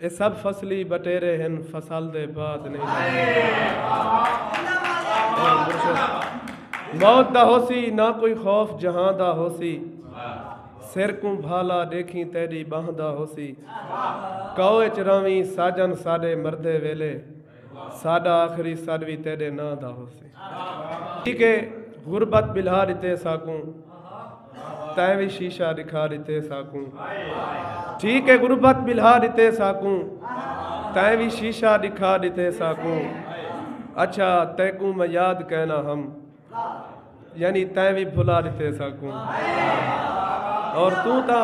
اے سب فصلی بٹیرے ہن فصل دے بعد نئیں لہندے موت دا ہوسی نہ کوئی خوف جہاں دا ہوسی سر کوں بھالا ڈیکھیں تیڈی بانہہ دا ہوسی کاؤ اچ رہویں ساجن ساڈے مردے ویلے ساڈا آخری سڈ وی تیڈے ناں دا ہوسے ٹھیک ہے غربت بلہا ڈتے ساکوں تائیں وی شیشہ دکھا ڈتے ساکوں ٹھیک ہے غربت بلہا ڈتے ساکوں تائیں وی شیشہ دکھا ڈتے ساکوں اچھا تیکوں میں یاد کہنا ہم یعنی تائیں وی بھلا ڈتے ساکوں اور تو تا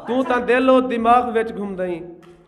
تو تا دل و دماغ وچ گھم دیں